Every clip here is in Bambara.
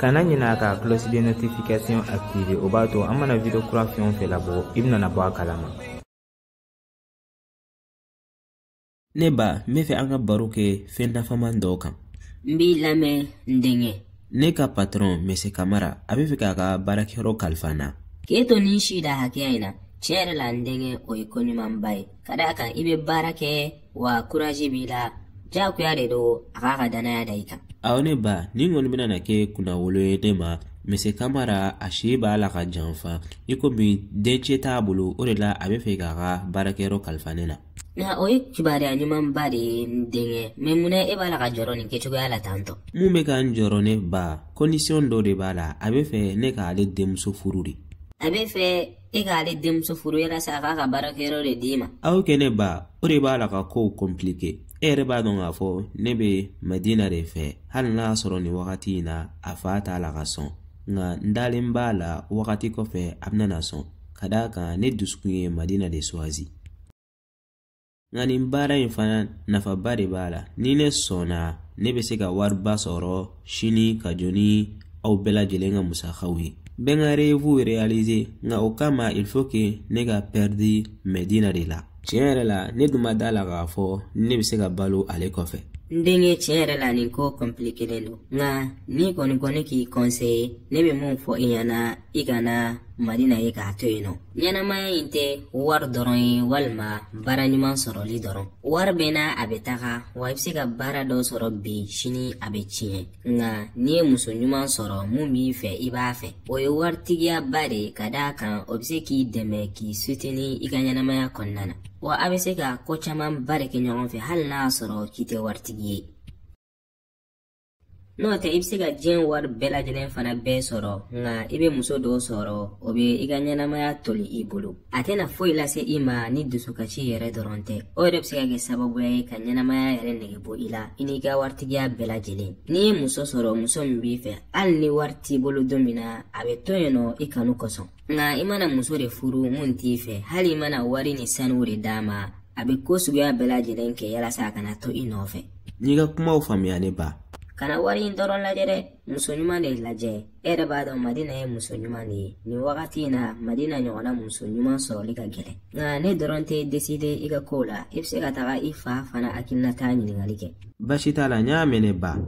kana ɲina ka cloche de notification activer o b'a to an mana video kura fɛn o fɛn labɔ i bɛna bɔ a kalama ne ba n bɛ fɛ an ka baro kɛ fɛn nafaman dɔ kan n b'i lamɛn n denkɛ ne ka patɔrɔn mese kamara a bɛ fɛ k'a ka baarakɛyɔrɔ kalifa n na k'e to nin si da hakɛya in na tiɲɛ yɛrɛ la n denkɛ o ye ko ɲumanba ye ka d'a kan i bɛ baara kɛ wa kurazi b'i la jagoya de don a k'a ka danaya da i kan awɔ ne ba nin kɔni bɛna na kɛ kunnawolo ye ne ma mese kamara a si b'a la ka janfa i komi dencɛ t'a bolo o de la a bɛ fɛ k'a ka baarakɛyɔrɔ kalifa ne na nka o ye kibaruya ɲumanba de ye n denkɛ mɛ munna e b'a la ka jɔrɔ nin kɛcogoya la tantɔ mun bɛ ka n jɔrɔ ne ba kɔndisiyɔn dɔ de b'a la a bɛ fɛ ne k'ale denmuso furu de a bɛ fɛ e k'ale denmuso furu yalasa a k'a ka baarakɛyɔrɔ de d'i ma awɔ kɛ ne ba o de b'a la ka kow kɔnplike e yɛrɛ b'a dɔn k'a fɔ ne bɛ madina de fɛ hali n'a y'a sɔrɔ nin wagati in na a fa t'a la ka sɔn nka n dalen b'a la wagati kɔfɛ a bɛna na sɔn ka d'a kan ne dusukun ye madina de suwazi nka nin baara in fana nafaba de b'a la ni ne sɔnna ne bɛ se ka wariba sɔrɔ sini ka jɔ ni aw bɛɛ lajɛlen ka musakaw ye bɛ n ka rɛvuw reyalize nka o kama il faut que ne ka pɛridi madina de la tiɲɛ yɛrɛ la ne dun ma da la k'a fɔ ne bɛ se ka balo ale kɔfɛ n denkɛ tiɲɛ yɛrɛ la nin ko kɔnpilikelen don nka n'i kɔni ko ne k'i kɔnseye ne bɛ mun fɔ i ɲɛna i kana madina ye k'a to yen nɔ ɲɛnamaya in tɛ wari dɔrɔn ye walima baara ɲuman sɔrɔli dɔrɔn wari bɛ na a bɛ taga wa i bɛ se ka baara dɔ sɔrɔ bi sini a bɛ tiɲɛ nka n'i ye muso ɲuman sɔrɔ mun b'i fɛ i b'a fɛ o ye waritigiyaba de ye ka d'a kan o bɛ se k'i dɛmɛ k'i suteni i ka ɲɛnamaya kɔnɔna na wa a bɛ se ka ko camanba de kɛ ɲɔgɔn fɛ hali n'a y'a sɔrɔ k'i tɛ waritigi ye n'o tɛ i bɛ se ka diɲɛ wari bɛɛ lajɛlen fana bɛɛ sɔrɔ nka i bɛ muso dɔ sɔrɔ o bɛ i ka ɲɛnamaya toli i bolo a tɛna foyi lase i ma ni dusukasi yɛrɛ dɔrɔn tɛ o yɛrɛ bɛ se ka kɛ sababuya ye ka ɲɛnamaya yɛrɛ nege bɔ i la i n'i ka waritigiya bɛɛ lajɛlen n'i ye muso sɔrɔ muso min b'i fɛ hali ni wari t'i bolo don min na a bɛ to yen nɔ i kanu kosɔn nka i mana muso de furu mun t'i fɛ hali i mana wari ni sanu de d'a ma a bɛ ko suguya bɛɛ lajɛlen kɛ yalasa a kana to i nɔfɛ n y'i ka kumaw faamuya ne ba kana wari in dɔrɔn lajɛ dɛ muso ɲuman de lajɛ e yɛrɛ b'a dɔn madina ye muso ɲuman de ye nin wagati in na madina ɲɔgɔnna muso ɲuman sɔrɔli ka gɛlɛn nka ne dɔrɔn tɛ deside i ka kow la i bɛ se ka taga i fa fana hakilinata ɲininkali kɛ baasi t'a la n y'a mɛn ne ba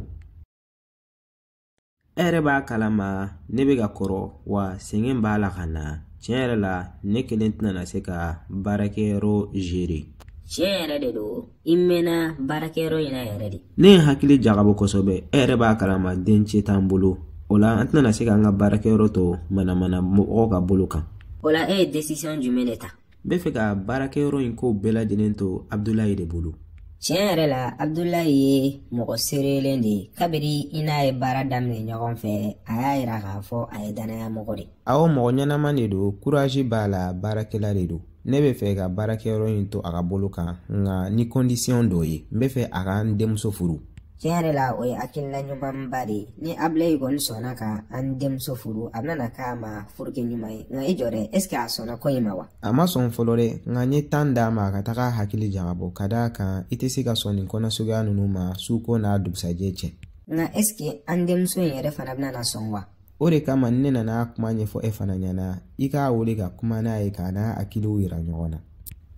e yɛrɛ b'a kalama ne bɛ ka kɔrɔ wa sɛgɛn b'a la ka na tiɲɛ yɛrɛ la ne kelen tɛna na se ka baarakɛyɔrɔ gérer tiɲɛ yɛrɛ de don i mɛɛnna baarakɛyɔrɔ in na yɛrɛ de ne ye hakili jagabɔ kosɛbɛ e yɛrɛ b'a kalama dencɛ t'an bolo o la an tɛna na se k'an ka baarakɛyɔrɔ to manamana mɔgɔw ka bolo kan o la e ye desisiyɔn jumɛn de ta n bɛ fɛ ka baarakɛyɔrɔ in kow bɛɛ lajɛlen to abudulayi de bolo tiɲɛ yɛrɛ la abudulayi ye mɔgɔ seerelen de ye kabiri i n'a ye baara daminɛ ɲɔgɔn fɛ a y'a yira k'a fɔ a ye dannaya mɔgɔ de awɔ mɔgɔ ɲɛnama de don kurazi b'a la baarakɛla de don ne bɛ fɛ ka baarakɛyɔrɔ in to a ka bolo kan nka ni kɔndisiyɔn dɔ ye n bɛ fɛ a ka n denmuso furu tiɲɛ yɛrɛ la o ye hakilina ɲumanba de ye ni abulayi kɔni sɔnna ka an denmuso furu a bɛna k'a ma furukɛ ɲuman ye nka i jɔ dɛ est ce que a sɔnna ko in ma wa a ma sɔn fɔlɔ dɛ nka n ye tan d'a ma a ka taga hakili jagabɔ ka d'a kan i tɛ se ka sɔn nin ko nasuguya ninnu ma su ko n'a dugusajɛ cɛ nka est ce que an denmuso in yɛrɛ fana bɛna sɔn wa o de kama ne nana kuma ɲɛfɔ e fana ɲɛ na i k'a wele ka kuma n'a ye ka n'a hakiliw yira ɲɔgɔn na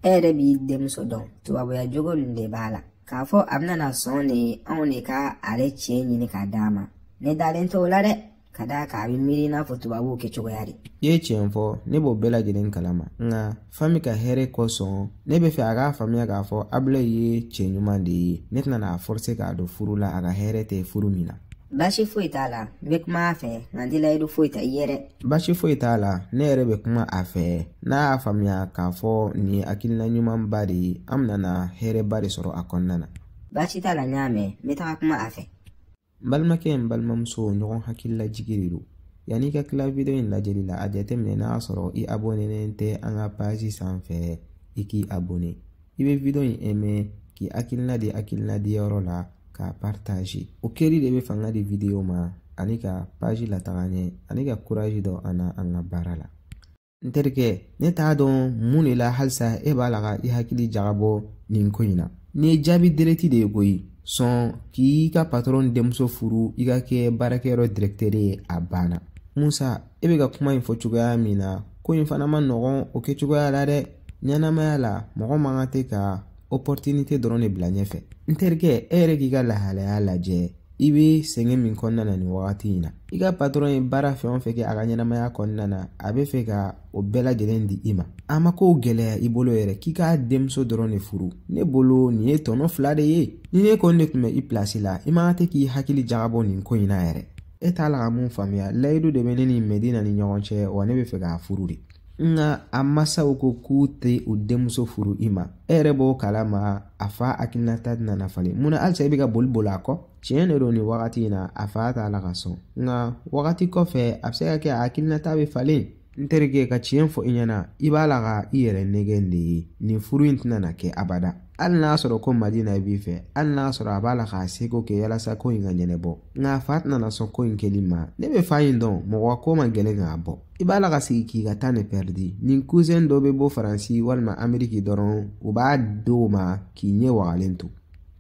e yɛrɛ b'i denmuso dɔn tubabuya jogo nin de b'a la k'a fɔ a bɛna na sɔn de anw de ka ale cɛ ɲini k'a d'a ma ne dalen t'o la dɛ ka d'a kan a bɛ miiri i n'a fɔ tubabuw kɛcogoya de i ye tiɲɛ fɔ ne b'o bɛɛ lajɛlen kalama nka fami ka hɛrɛ kosɔn ne bɛ fɛ a k'a faamuya k'a fɔ abulayi ye cɛ ɲuman de ye ne tɛna n'a forse k'a don furu la a ka hɛrɛ tɛ furu min na baasi foyi t'a la n bɛ kuma a fɛ nka n tɛ layidu foyi ta i ye dɛ baasi foyi t'a la ne yɛrɛ bɛ kuma a fɛ n'a y'a faamuya k'a fɔ nin ye hakilina ɲumanba de ye an bɛna hɛrɛba de sɔrɔ a kɔnɔna na baasi t'a la n y'a mɛn n bɛ taga kuma a fɛ n balimakɛ n balimamuso ɲɔgɔn hakililajigi de don yanni i ka tila video in lajɛli la a jateminɛ n'a y'a sɔrɔ i abonenen tɛ an ka page sanfɛ i k'i abone i bɛ video in aimer k'i hakilina di hakilina di yɔrɔ la k'a partager o kɛli de bɛ fanga di video ma ani ka page lataga ɲɛ ani ka courage don an na an ka baara la n terikɛ ne t'a dɔn mun de la halisa e b'a la ka i hakili jagabɔ nin ko in na nin ye jaabi direct de ye koyi sɔn k'i ka patɔrɔn denmuso furu i ka kɛ baarakɛyɔrɔ dirɛkitɛri ye a banna musa e bɛ ka kuma in fɔ cogoya min na ko in fana man nɔgɔn o kɛcogoya la dɛ ɲɛnamaya la mɔgɔ man kan tɛ ka opportunité dɔrɔn de bila ɲɛfɛ n terikɛ e yɛrɛ k'i ka lahalaya lajɛ i bɛ sɛgɛn min kɔnɔna na nin wagati in na i ka patɔrɔn ye baara fɛn o fɛn kɛ a ka ɲɛnamaya kɔnɔna na a bɛ fɛ ka o bɛɛ lajɛlen di i ma a ma kow gɛlɛya i bolo yɛrɛ k'i k'a denmuso dɔrɔn de furu ne bolo nin ye tɔnɔ fila de ye ni ne kɔni de tun bɛ i pilasi la i man kan tɛ k'i hakili jagabɔ nin ko in na yɛrɛ e t'a la ka mun faamuya layidu de bɛ ne ni mɛdina ni ɲɔgɔn cɛ wa ne bɛ fɛ k'a furu de nka a masaw ko k'u tɛ u denmuso furu i ma e yɛrɛ b'o kalama a fa hakilinata tɛna na falen munna halisa i bɛ ka boli boli a kɔ tiɲɛ de don nin wagati in na a fa t'a la ka sɔn nka wagati kɔfɛ a bɛ se ka kɛ a hakilinata bɛ falen n terikɛ ka tiɲɛ fɔ i ɲɛna i b'a la ka i yɛrɛ nɛgɛn de ye nin furu in tɛna na kɛ abada hali n'a sɔrɔ ko madina b'i fɛ hali n'a sɔrɔ a b'a la k'a seko kɛ yalasa ko in ka ɲɛnɛbɔ nka a fa tɛna na sɔn ko in kɛli ma ne bɛ fa in dɔn mɔgɔ ko man gɛlɛn k'a bɔ i b'a la ka sigi k'i ka tan pɛridi ni kusen dɔ bɛ bɔ faransi walima ameriki dɔrɔn u b'a di o ma k'i ɲɛ wagalen to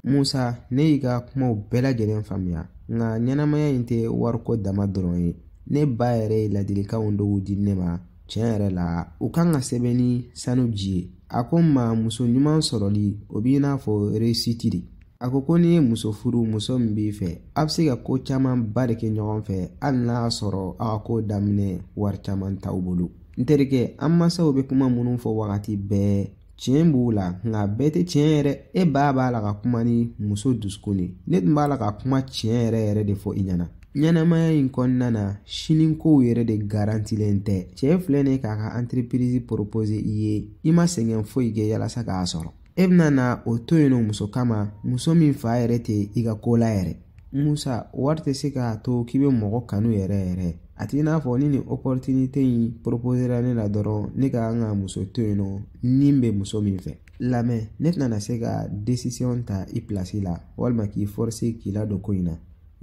musa ne y'i ka kumaw bɛɛ lajɛlen faamuya nka ɲɛnamaya in tɛ wariko dama dɔrɔn ye ne ba yɛrɛ ye ladilikanw dɔw di ne ma tiɲɛ yɛrɛ la u kan ka sɛbɛn ni sanu ji ye a ko n ma muso ɲuman sɔrɔli o b'i n'a fɔ réussite de a ko ko n'i ye muso furu muso min b'i fɛ a bɛ se ka ko caman ba de kɛ ɲɔgɔn fɛ hali n'a sɔrɔ a ka ko daminɛ wari caman t'aw bolo n terikɛ an masaw bɛ kuma minnu fɔ wagati bɛɛ tiɲɛ b'u la nka bɛɛ tɛ tiɲɛ yɛrɛ e ba b'a la ka kuma ni muso dusukun de ne tun b'a la ka kuma tiɲɛ yɛrɛ yɛrɛ de fɔ i ɲɛna ɲɛnamaya in kɔnɔna na sinikow yɛrɛ de garantilen tɛ cɛ filɛ nin k'a ka antirepirizi poropose i ye i ma sɛgɛn foyi kɛ yalasa k'a sɔrɔ e bɛna na o to yen nɔ muso kama muso min fa yɛrɛ tɛ i ka ko la yɛrɛ musa wari tɛ se k'a to k'i bɛ mɔgɔ kanu yɛrɛ yɛrɛ a t'i n'a fɔ ni nin opportunité in proposera ne la dɔrɔn ne ka kan ka muso to yen nɔ ne bɛ muso min fɛ lamɛn ne tɛna na se ka décision ta i pilasi la walima k'i forcer k'i ladon ko in na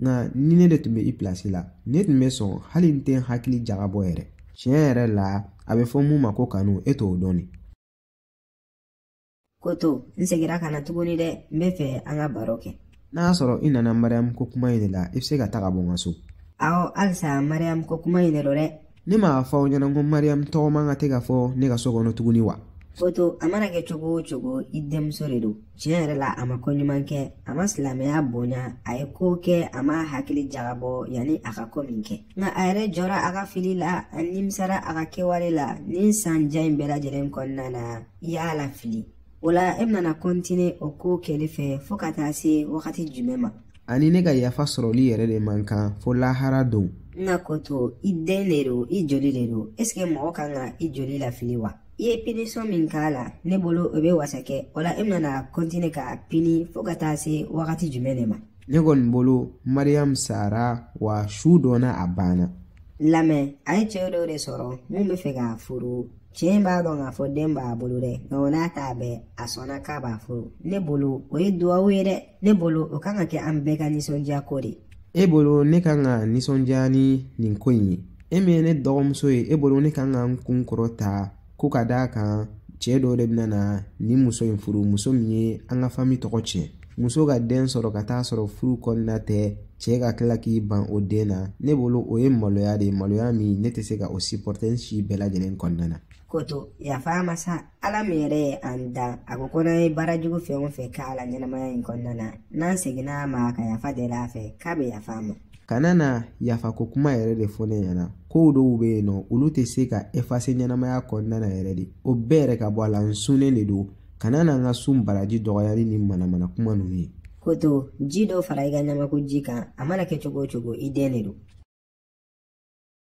nka ni ne de tun bɛ i pilasi la ne tun bɛ sɔn hali n tɛ n hakili jagabɔ yɛrɛ tiɲɛ yɛrɛ la a bɛ fɔ mun ma ko kanu e t'o dɔn de koto n segira ka na tuguni dɛ n bɛ fɛ an ka baro kɛ n'a sɔrɔ i nana mariyamu ko kuma in de la i bɛ se ka taga bɔ n ka so awɔ halisa mariyamu ko kuma in de don dɛ ne m'a fɔ aw ɲɛna ko mariyamu tɔgɔ man ka tɛ ka fɔ ne ka so kɔnɔ tuguni wa koto a mana kɛ cogo o cogo i denmuso de don tiɲɛ yɛrɛ la a ma ko ɲuman kɛ a ma silamɛya bonya a ye ko kɛ a ma hakili jagabɔ yanni a ka ko min kɛ nka a yɛrɛ jɔra a ka fili la a nimisara a ka kɛwale la nin san jan in bɛɛ lajɛlen kɔnɔna na i y'a lafili o la e bɛna na kɔntine o ko kɛli fɛ fɔɔ ka taa se wagati jumɛn ma a ni ne ka yafa sɔrɔli yɛrɛ de man kan fo lahara don nka koto i den de don i joli de don esike mɔgɔ kan ka i joli lafili wa i ye pinisɔn min k'a la ne bolo o bɛ wasa kɛ o la e bɛna na kɔntine k'a pini fɔɔ ka taa se wagati jumɛn de ma ne kɔni bolo mariyamu sara wa su dɔnna a banna lamɛn a ye cɛ dɔw de sɔrɔ min bɛ fɛ k'a furu cɛ in b'a dɔn k'a fɔ den b'a bolo dɛ nka o n'a ta bɛɛ a sɔnna k'a b'a furu ne bolo o ye duwawu ye dɛ ne bolo o kan ka kɛ an bɛɛ ka nisɔndiya ko de e bolo ne kan ka nisɔndiya ni nin ko in ye e min ye ne dɔgɔmuso ye e bolo ne kan ka n kun kɔrɔta ko ka d'a kan cɛ dɔ de bɛna na nin muso in furu muso min ye an ka fami tɔgɔ tiɲɛ muso ka den sɔrɔ ka t'a sɔrɔ furu kɔnɔna tɛ cɛ ka tila k'i ban o den na ne bolo o ye maloya de ye maloya min ne tɛ se ka o sipɔrɔte n si bɛɛ lajɛlen kɔnɔna na koto yafa a ma sa ala min yɛrɛ ye an dan a ko ko n'an ye baara jugu fɛn o fɛn k'a la ɲɛnamaya in kɔnɔna na n'an seginna a ma ka yafa deli a fɛ k'a bɛ yafa an ma kana na yafa ko kuma yɛrɛ de fɔ ne ɲɛna kow dɔw bɛ yen nɔ olu tɛ se ka efase ɲɛnamaya kɔnɔna na yɛrɛ de o bɛɛ yɛrɛ ka bɔ a la n sunnen de don kana na n ka sun baraji dɔgɔya ni nin manamana kuma ninnu ye koto ji dɔ fara i ka ɲamakuji kan a mana kɛ cogo o cogo i den de don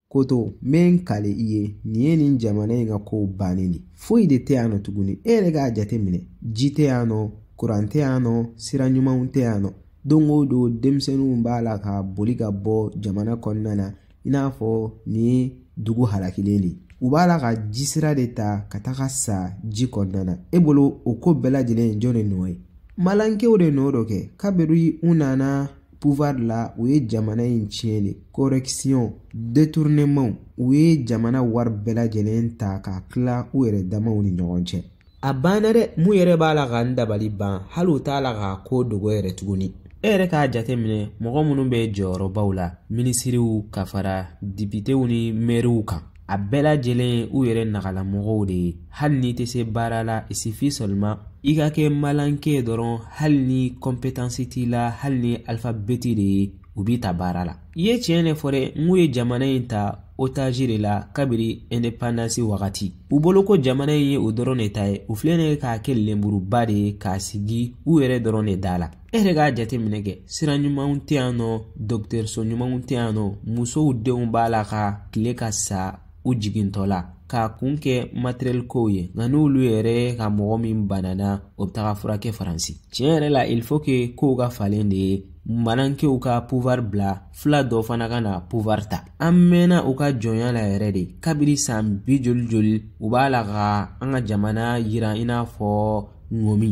koto n bɛ n kale i ye nin ye nin jamana in ka kow bannen de foyi de tɛ yan nɔ tuguni e yɛrɛ k'a jate minɛ ji tɛ yan nɔ kuran tɛ yan nɔ sira ɲumanw tɛ yan nɔ don o don denmisɛnninw b'a la ka boli ka bɔ jamana kɔnɔna na i n'a fɔ nin ye dugu halakilen de u b'a la ka ji sira de ta ka taga sa ji kɔnɔna na e bolo o ko bɛɛ lajɛlen jɔn de nɔ ye malankew de nɔ don kɛ kabiri u nana pouvoir la u ye jamana in tiɲɛ de corruption détournement u ye jamana wari bɛɛ lajɛlen ta k'a tila u yɛrɛ damaw ni ɲɔgɔn cɛ a banna dɛ mun yɛrɛ b'a la ka n dabali ban hali u t'a la k'a ko dogo yɛrɛ tuguni e yɛrɛ k'a jateminɛ mɔgɔ minnu bɛ jɔyɔrɔbaw la minisiriw ka fara depitew ni mɛriw kan a bɛɛ lajɛlen u yɛrɛ nagalamɔgɔw de ye hali n'i tɛ se baara la il suffit seulement i ka kɛ malanke dɔrɔn hali ni kɔnpetansi t'i la hali ni alifabeti de ye u b'i ta baara la i ye tiɲɛ de fɔ dɛ n k'u ye jamana in ta otazi de la kabiri ɛndepandansi wagati u bolo ko jamana ye u dɔrɔn de ta ye u filɛ ne k'a kɛ lenburuba de ye k'a sigi u yɛrɛ dɔrɔn de da la e yɛrɛ k'a jateminɛ kɛ sira ɲumanw tɛ yan nɔ dɔgɔtɔrɔso ɲumanw tɛ yan nɔ musow denw b'a la ka tile ka sa u jigintɔ la k'a kun kɛ matɛriyɛli kow ye nka n'olu yɛrɛ ka mɔgɔ min banana o bɛ taga furakɛ faransi tiɲɛ yɛrɛ la il faut que kow ka falen de ye malankew ka pouvoir bila fila dɔ fana ka na pouvoir ta an mɛnna u ka jɔnya la yɛrɛ de kabiri san bi joli joli u b'a la ka an ka jamana yiran i n'a fɔ ŋɔmi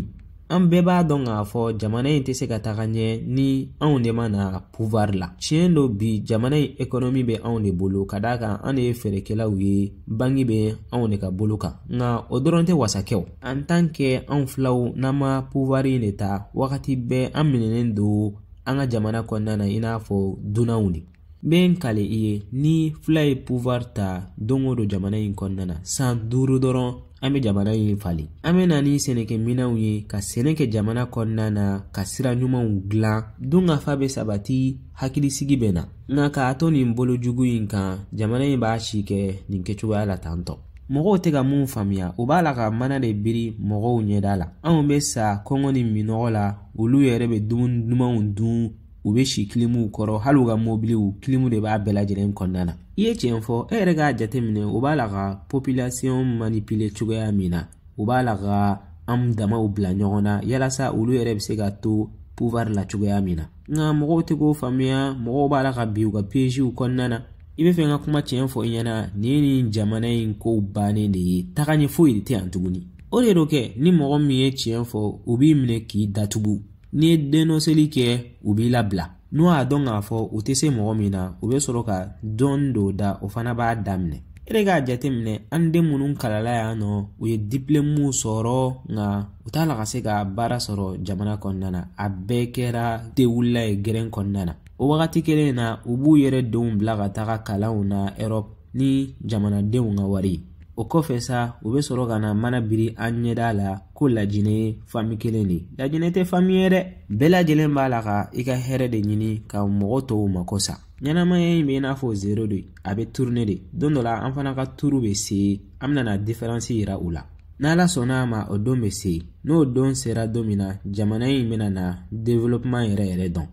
an bɛɛ b'a dɔn k'a fɔ jamana in tɛ se ka taga ɲɛ ni anw de ma na pouvoir la tiɲɛ don bi jamana in ekɔnɔmi bɛ anw de bolo ka d'a kan an de ye feerekɛlaw ye banki bɛ anw de ka bolo kan nka o dɔrɔn tɛ wasa kɛ en tant que anw filaw n'an ma pouvoir in de ta wagati bɛɛ an minɛnen don an ka jamana kɔnɔna na i n'a fɔ dunanw de n bɛ n kale i ye ni fula ye pouvoir ta don o don jamana in kɔnɔna na san duuru dɔrɔn an bɛ jamana in falen an bɛ na ni sɛnɛkɛminɛnw ye ka sɛnɛ kɛ jamana kɔnɔna na ka sira ɲumanw dilan dunkafa bɛ sabati hakilisigi bɛ na nka k'a to nin bolo jugu in kan jamana in b'a si kɛ nin kɛcogoya la tantɔ mɔgɔw tɛ ka mun faamuya u b'a la ka mana de biri mɔgɔw ɲɛda la anw bɛ sa kɔngɔ ni minnɔgɔ la olu yɛrɛ bɛ dumuni dumanw dun u bɛ si kilimuw kɔrɔ hali u ka mobiliw kilimu de b'a bɛɛ lajɛlen kɔnɔna na i ye tiɲɛ fɔ e yɛrɛ k'a jateminɛ u b'a la ka population manipuler cogoya min na u b'a la ka an damaw bila ɲɔgɔn na yalasa olu yɛrɛ bɛ se ka to pouvoir la cogoya min na nka mɔgɔw tɛ k'o faamuya mɔgɔw b'a la ka bin u ka piègew kɔnɔna na i bɛ fɛ n ka kuma tiɲɛ fɔ i ɲɛna nin ye nin jamana in kow bannen de ye taga ɲɛ foyi de tɛ yan tuguni o de don kɛ ni mɔgɔ min ye tiɲɛ fɔ u b'i minɛ k'i datugu n'i ye dennɔseli kɛ u b'i labila n'u y'a dɔn k'a fɔ u tɛ se mɔgɔ min na u bɛ sɔrɔ ka dɔɔni don o da o fana b'a da minɛ e yɛrɛ k'a jateminɛ an den minnu kalala yan nɔ u ye diplôme sɔrɔ nka u t'a la ka se ka baara sɔrɔ jamana kɔnɔna na a bɛɛ kɛra tewulila ye gɛrɛn kɔnɔna na o wagati kelen na u b'u yɛrɛ denw bila ka taga kalanw na europe ni jamanadenw ka wari o kɔfɛ sa u bɛ sɔrɔ ka na mana biri an ɲɛda la ko lajinɛ ye fami kelen de lajinɛ tɛ fami ye dɛ bɛɛ lajɛlen b'a la ka i ka hɛrɛ de ɲini ka mɔgɔ tɔw mako sa ɲɛnamaya in bɛ i n'a fɔ zero de a bɛ tourner de don dɔ la an fana ka turu bɛ se an bɛna na différence yira u la n'ala sɔnna a ma o don bɛ se n'o don sera don min na jamana in bɛna na développement yɛrɛ yɛrɛ dɔn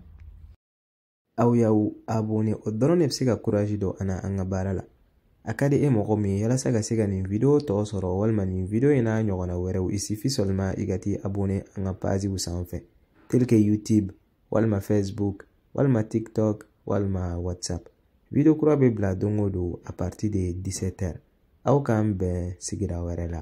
aw y'aw abone o dɔrɔn de bɛ se ka kurazi don an na an ka baara la a ka di e mɔgɔ min ye yalasa ka se ka nin video tɔ sɔrɔ walima nin video in n'a ɲɔgɔnna wɛrɛw il suffit seulement i ka t'i abone an ka paziw sanfɛ tel que youtube walima facebook walima tiktok walima whatsapp video kura bɛ bila don o don à partir de 17 heures aw k'an bɛn sigira wɛrɛ la